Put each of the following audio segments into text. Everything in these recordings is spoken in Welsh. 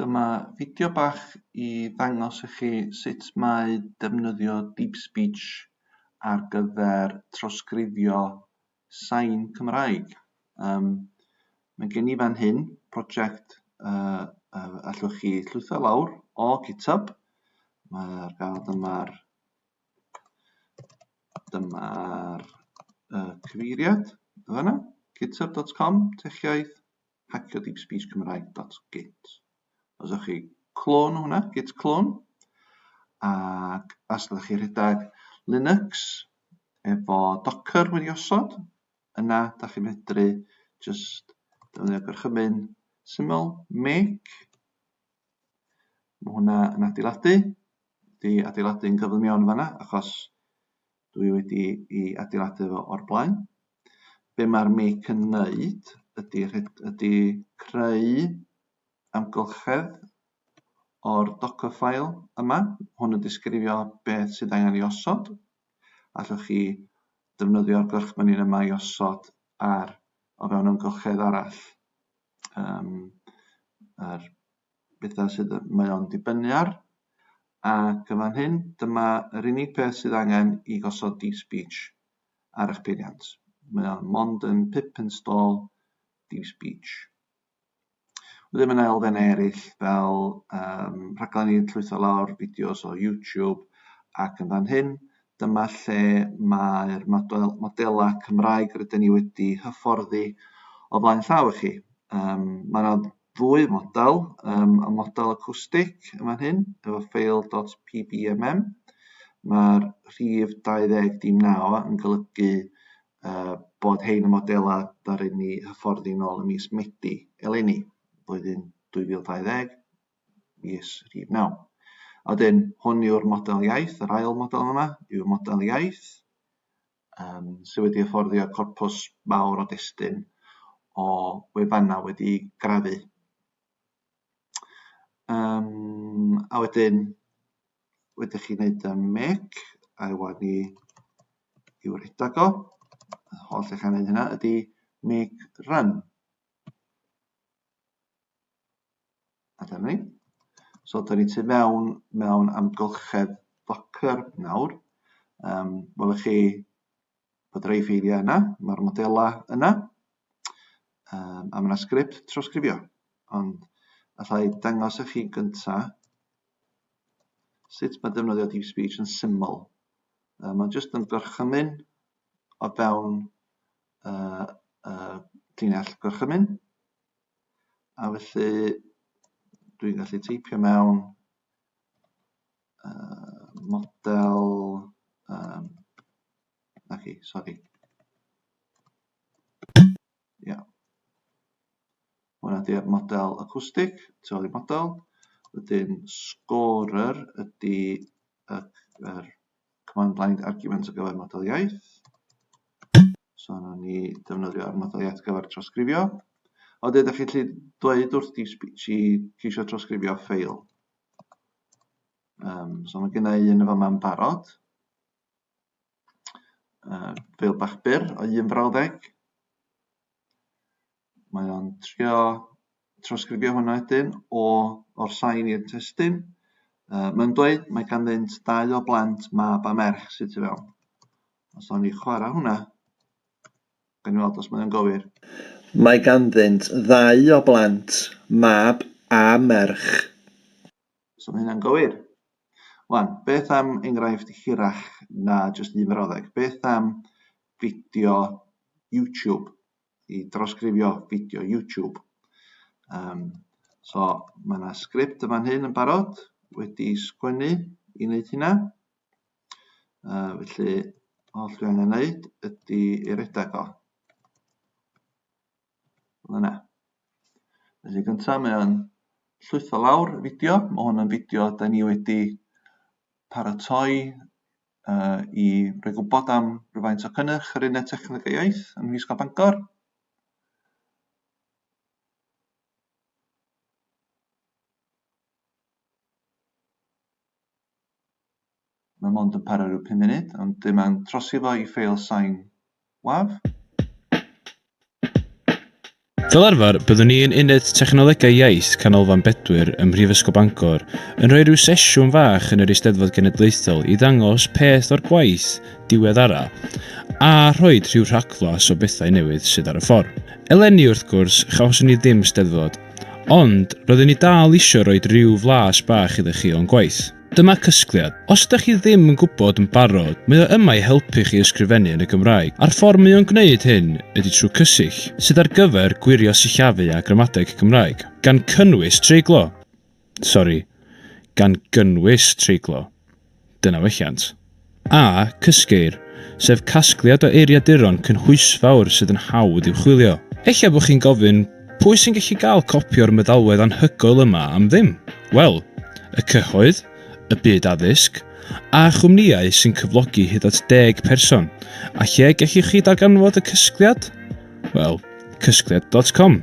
Dyma fideo bach i ddangos i chi sut mae defnyddio Deep Speech ar gyfer trawsgrifio sain Cymraeg. Um, mae gen i fan hyn prosiect uh, uh, allwch chi llwytho lawr o GitHub. Mae'r gael dyma'r dyma'r uh, cyfeiriad yna, github.com, techiaeth, hacio deep speech Cymraeg dot git. Os ydych chi clone hwnna, git clone, ac os ydych chi rhedeg Linux efo Docker wedi osod, yna da chi'n medru just defnyddio gorchymyn syml, make, mae hwnna yn adeiladu, di adeiladu'n gyflym iawn fanna, achos dwi wedi i adeiladu fo o'r blaen. Be mae'r mic yn wneud ydy, ydy creu amgylchedd o'r docker file yma. Hwn yn disgrifio beth sydd angen i osod. Allwch chi defnyddio'r gorchmynin yma i osod ar o fewn amgylchedd arall. Um, yr bethau sydd y, mae o'n dibynnu ar. Ac yn fan hyn, dyma yr unig peth sydd angen i gosod deep speech ar eich peiriant. Mae o'n mond yn pip install deep speech. Wedyn mae yna elfennau eraill fel um, rhaglen i'n llwytho lawr fideos o YouTube ac yn fan hyn, dyma lle mae'r model, modelau Cymraeg rydyn ni wedi hyfforddi o flaen llaw i chi. Um, mae yna ddwy model, um, y model acwstig yn fan hyn, efo ffeil.pbmm. Mae'r rhif 20 dim na o yn golygu uh, bod hein y modelau ddaru ni hyfforddi nôl y mis Medi eleni, blwyddyn 2020, mis rhif 9. A wedyn, hwn yw'r model iaith, yr ail model yma yw'r model iaith, yym sy wedi hyfforddio corpws mawr o destun o wefannau wedi grafu. Um, a wedyn, wedi chi wneud y mec, a wan ni i'w redag o, y holl eich angen hynna, ydy make run. A dyna ni. So, da ni tu mewn mewn amgylchedd Docker nawr. Um, Welwch chi bod rei ffeiliau yna, mae'r modelau yna, um, a mae yna sgript trawsgrifio. Ond allai dangos i chi gyntaf sut mae defnyddio deep speech yn syml. Um, mae'n jyst yn gorchymyn o fewn uh, uh, llinell gorchymyn. A felly dwi'n gallu teipio mewn uh, model, um, na chi, sori. Ia. Hwna di'r model acwstig, tu ôl i model. Wedyn scorer ydy y, yr command line argument o gyfer model iaith. So yna ni defnyddio'r model iaith gyfer trawsgrifio. O dweud, ydych chi'n dweud wrth di chi ceisio trawsgrifio ffeil. Um, so mae gen i un efo ma'n barod. Uh, ffeil bach byr o un frawddeg. Mae o'n trio trawsgrifio hwnna wedyn o o'r sain i'r testun. Uh, mae'n dweud mae ganddynt dau o blant, mab a merch, sydd tu fewn. Os o'n i chwarae hwnna, gan i weld os mae'n gywir. Mae ganddynt ddau o blant, mab a merch. So mae hynna'n gywir. Wan, beth am enghraifft hirach na jyst un frawddeg? Beth am fideo YouTube? I drosgrifio fideo YouTube. Um, so mae yna sgript yma hyn yn barod wedi sgwennu i wneud hynna. Uh, felly, all dwi angen wneud ydy ei redag o. Fel yna. Felly gynta mae o'n llwytho lawr y fideo. Mae hwn yn fideo da ni wedi paratoi uh, i roi gwybod am rhywfaint o cynnyrch yr uned techneg a iaith yn Mhrifysgol Bangor. Mae mond yn para rhyw pum munud, ond dwi mae'n trosi fo i ffeil sain waf. Fel arfer, byddwn ni yn Uned Technolegau Iaith Canolfan Bedwyr ym Mhrifysgol Bangor yn rhoi rhyw sesiwn fach yn yr Eisteddfod Genedlaethol i ddangos peth o'r gwaith diweddara a rhoi rhyw rhagflas o bethau newydd sydd ar y ffordd. Eleni, wrth gwrs, chawson ni ddim Steddfod, ond roeddwn i dal eisiau rhoi rhyw flas bach iddo chi o'n gwaith. Dyma Cysgliad. Os ydych chi ddim yn gwybod yn barod, mae o yma i helpu chi ysgrifennu yn y Gymraeg, a'r ffordd mae o'n gwneud hyn ydy trwy Cysill, sydd ar gyfer gwirio sillafu a gramadeg Cymraeg, gan cynnwys treiglo! Sori, gan gynnwys treiglo. Dyna welliant. A, cysgeir, sef casgliad o eiriaduron cynhwysfawr sydd yn hawdd i'w chwilio. Ella bod chi'n gofyn, pwy sy'n gallu cael copi o'r meddalwedd anhygoel yma am ddim? Wel, y cyhoedd, y byd addysg, a chwmnïau sy'n cyflogi hyd at deg person. A lle gellwch chi ddarganfod y cysgliad? Wel, cysgliad dot com.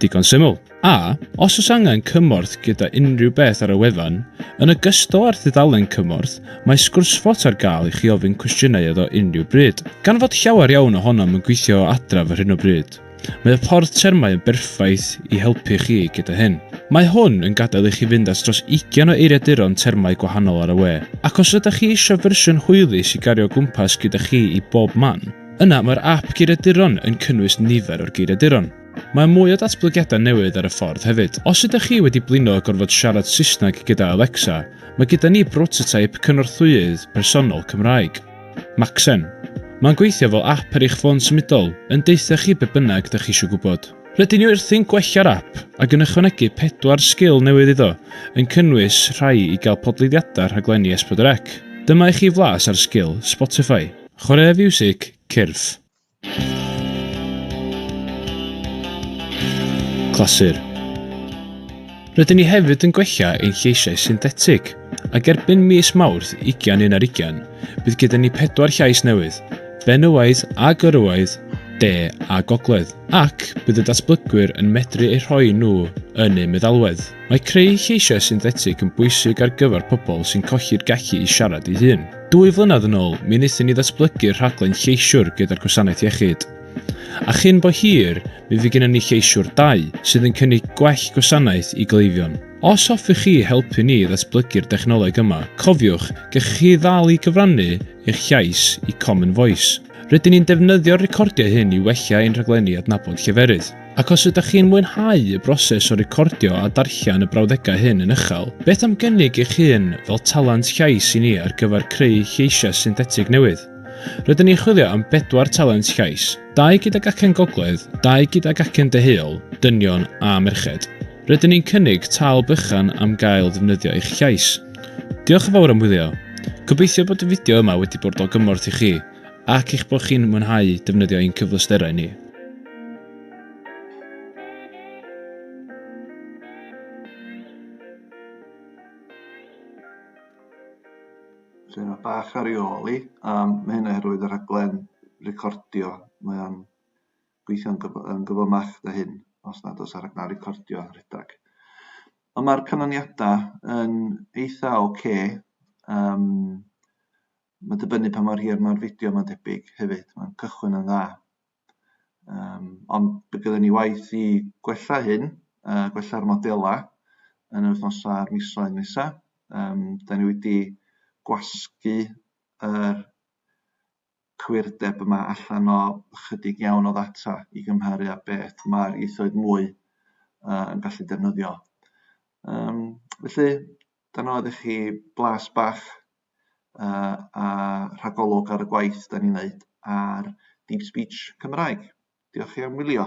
Digon syml. A, os oes angen cymorth gyda unrhyw beth ar y wefan, yn ogystal â'r dudalen cymorth, mae sgwrsfot ar gael i chi ofyn cwestiynau iddo unrhyw bryd. Gan fod llawer iawn ohonom yn gweithio o adref ar hyn o bryd, mae y ffordd termau yn berffaith i helpu chi gyda hyn. Mae hwn yn gadael i chi fynd at dros 20 o eiriaduron termau gwahanol ar y we, ac os ydych chi eisiau fersiwn hwylus i gario o gwmpas gyda chi i bob man, yna mae'r ap geiriaduron yn cynnwys nifer o'r geiriaduron. Mae mwy o datblygiadau newydd ar y ffordd hefyd. Os ydych chi wedi blino a gorfod siarad Saesneg gyda Alexa, mae gyda ni brototeip cynorthwyydd personol Cymraeg. Maxen. Mae'n gweithio fel app ar eich ffôn symudol, yn deutha chi be bynnag dych chi eisiau gwybod. Rydyn ni wrthi'n gwella'r app ac yn ychwanegu pedwar sgil newydd iddo, yn cynnwys rhai i gael podleiddiadau rhaglenni S4C. Dyma i chi flas ar sgil Spotify. Chwaraea fiwsig, cyrff. Clasur. Rydyn ni hefyd yn gwella ein lleisiau synthetig, ac erbyn mis Mawrth 21 ar 20, bydd gyda ni pedwar llais newydd, benywaidd a gyrywaidd, de a gogledd, ac bydd y datblygwyr yn medru eu rhoi nhw yn eu meddalwedd. Mae creu lleisiau synthetig yn bwysig ar gyfer pobl sy'n colli'r gallu i siarad ei hun. Dwy flynedd yn ôl, mi wnaethon ni ddatblygu'r rhaglen Lleisiwr gyda'r Gwasanaeth Iechyd. A chyn bo hir, mi fydd gennym ni Lleisiwr 2, sydd yn cynnig gwell gwasanaeth i gleifion. Os hoffech chi helpu ni i ddatblygu'r dechnoleg yma, cofiwch, gellwch chi ddal i gyfrannu eich llais i Common Voice. Rydyn ni'n defnyddio'r recordiau hyn i wella ein rhaglenni adnabod lleferydd. Ac os ydych chi'n mwynhau y broses o recordio a darllen y brawddegau hyn yn uchel, beth am gynnig eich hun fel talent llais i ni ar gyfer creu lleisiau synthetig newydd? Rydyn ni'n chwilio am bedwar talent llais, dau gydag acen gogledd, dau gydag acen deheuol, dynion a merched. Rydyn ni'n cynnig tâl bychan am gael defnyddio eich llais. Diolch yn fawr am wylio. Gobeithio bod y fideo yma wedi bod o gymorth i chi. ac eich bod chi'n mwynhau defnyddio ein cyfleusterau ni. Felly yna bach ar ei ôl i, a mae hynna herwydd y rhaglen recordio, mae o'n gweithio'n gyf yn gyfymach da hyn, os nad oes ar rhaglen recordio rhedeg. Ond mae'r canlyniadau yn eitha oce, okay, um, Mae'n dibynnu pa mor hir mae'r fideo mae'n debyg hefyd, mae'n cychwyn yn dda. Um, ond bydd gyda ni waith i gwella hyn, uh, gwella'r modelau yn yr wythnosau a'r misoedd nesaf. Um, da ni wedi gwasgu yr cwirdeb yma allan o ychydig iawn o ddata i gymharu â beth mae'r ieithoedd mwy uh, yn gallu defnyddio. Um, felly, dan oedd i chi blas bach uh, a rhagolwg ar y gwaith da ni'n neud ar Deep Speech Cymraeg. Diolch chi am wylio.